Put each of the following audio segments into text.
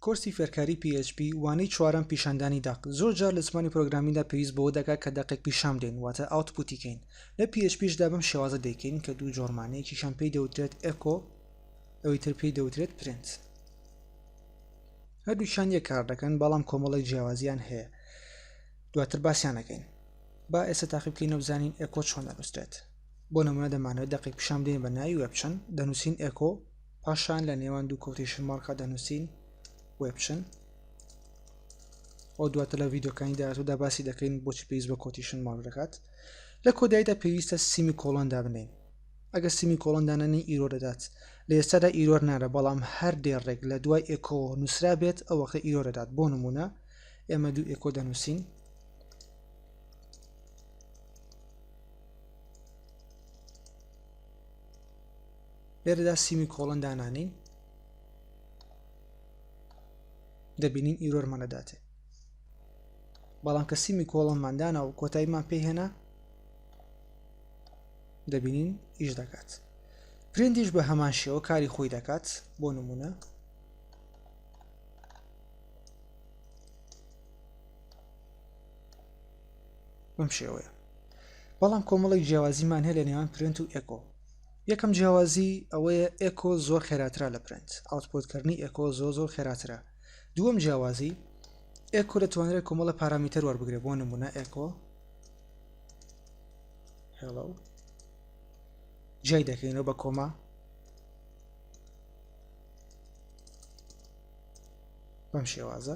کۆرسی فێرکاری PHP وانەی چوارەم پیشاندانی دەق زۆر جار لە زمانی پرۆگرامیندا پێویست بەوە دەکات کە دەقێک پیشان بدەین واتە ئاوتپوتی کەین لە PHPشدا بەم شێوازە دەیکەین کە دوو جۆرمانەیەکیشان پێی دەوترێت ئەکۆ ئەوی تر پێی دەوترێت پرنت هەردووچان یەک کار دەکەن بەڵام کۆمەڵی جیاوازیان هەیە دواتر باسییانەکەین با ئێستا تاقی بکەینەوە بزانین ئەکۆ چۆن دەنووسرێت بۆ نموونە دەمانەوێت دەقێک پیشان بدەین بە ناوی وێبچن دەنووسین ئێکۆ پاشان لە نێوان دوو کۆتیشن مارکا دەنووسین وێبچن ئەو دواتە لە ڤیددیوکانی داهاتوودا باسی دەکەین بۆچی پێویست بە کۆتیشن مارک دەکات لە کۆدایدا پێویستە سیمی کۆڵۆن دابنین ئەگەر سیمی کۆڵۆن دانانی ئیرۆ دەدات لە ئێستادا ئیرۆر نارە بەڵام هەر دێڕێک لە دوای ئێکۆ نووسرا بێت ئەو وەختە ئیرۆ دەدات بۆ نمونە ئێمە دوو ئێکۆ دەنووسین لێرەدا سیمی کۆڵن دانانین دەبینین ئیرۆرمان دەداتێ بەڵام کە سیمی کۆڵنمان دانا و کۆتاییمان پێی هێنا دەبینین ئیش دەکات پرندیش بە هەمان شێوە کاری خۆی دەکات بۆ نمونە بەم شێوەیە بەڵام کۆمەڵێک جیاوازیمان هەیە لە نێوان پرنت و ئێکۆ یەکەم جیاوازی ئەوەیە ئێکۆ زۆر خێراترا لە پرنت ئاوتپۆتکردنی ئێکۆ زۆ زۆر خێراترە دووەم جیاوازی ئێکۆ دەتوانرێت کۆمەڵە پارامیتەر وەربگرێ بۆ نمونە ئێکۆ هێڵە جای دەکەینەوە بە کۆما بەم شێوازە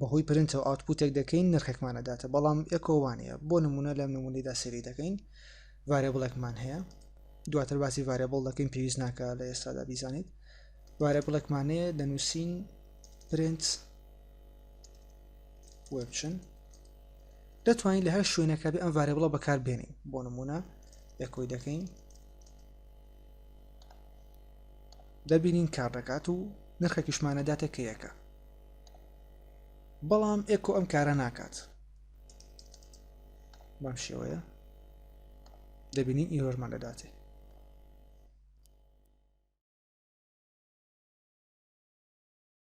بەهۆی پرنتەوە ئاوتپوتێک دەکەین نرخێکمان ئەداتە بەڵام ئێکۆ وانەیە بۆ نمونە لەم نمونەیدا سەیری دەکەین ڤارێبڵێکمان هەیە دواتر باسی ڤارێبڵ دەکەین پێویست ناکە لە ئێستادا بیزانیت ڤارێبڵێکمانەیە دەنووسین پرنت وبچن دەتوانین لە هەر شوێنەکە بێ ئەم ڤارێبڵە بەکار بێنین بۆ نمونە ئێکۆی دەکەین دەبینین کار دەکات و نرخێکیشمانەداتە کە یەکە بەڵام ئێکۆ ئەم کارە ناکات بەم شێوەیە دەبینین ئیرۆرمان دەداتێ